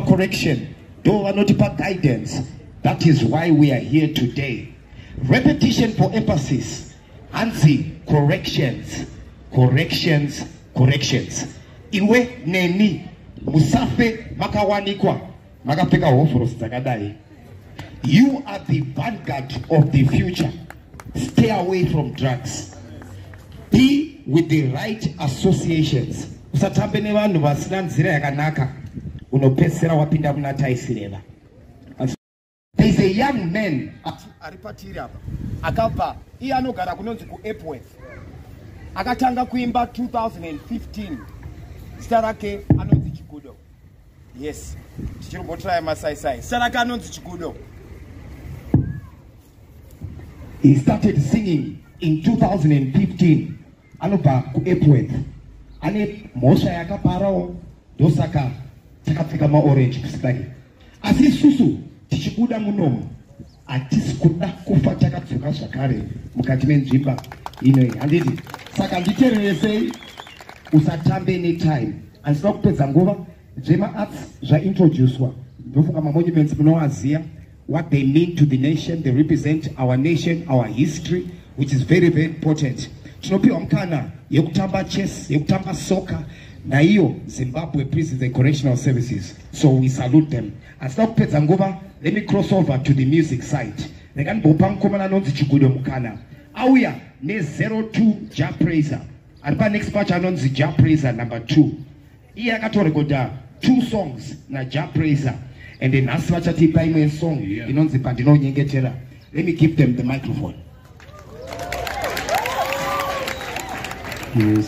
correction though vanotipa guidance that is why we are here today repetition for emphasis hanzi corrections corrections corrections iwe neni musafe makawanikwa makapfeka hovhorosi dzakadai You are the vanguard of the future. Stay away from drugs. Be with the right associations. Usatambe nevanhu vasina nzira yakanaka unopedzisira wapinda kuna taisireva. There is a young man ari patiri apa akabva iye anogara kunonzi kuEpworth akatanga kuimba 2015 zita rake anonzi Chigudo yes tichiri kutraya masaisai sara kanonzi chikudo he started singing in 2015 anobva kuepworth ane mhosva yakaparawo ndosaka takapfeka maorange kusikake asi isusu tichibuda munomo hatisi kuda kufa takadzoka zvakare mukati menzvimba inoi handiti saka nditereresei usatambe netime andisina kupedza nguva zvemaarts zvaintroducwa ndofunga mamonuments munowaziva what they mean to the nation they represent our nation our history which is very very important tinopiwa mukana yekutamba chess yekutamba soka naiyo zimbabwe prison the correctional services so we salute them asina kupedza nguva let me cross over to the music site rega ndimbopa mukomana anonzi chigudo mukana auya ne02 ja praiser ari panext pacho anonzi ja praiser number 2 iye akatorekodha two songs naja praiser and then nhasi vachatipa imwe song inonzi pandinonyengetera let me give them the microphone yes.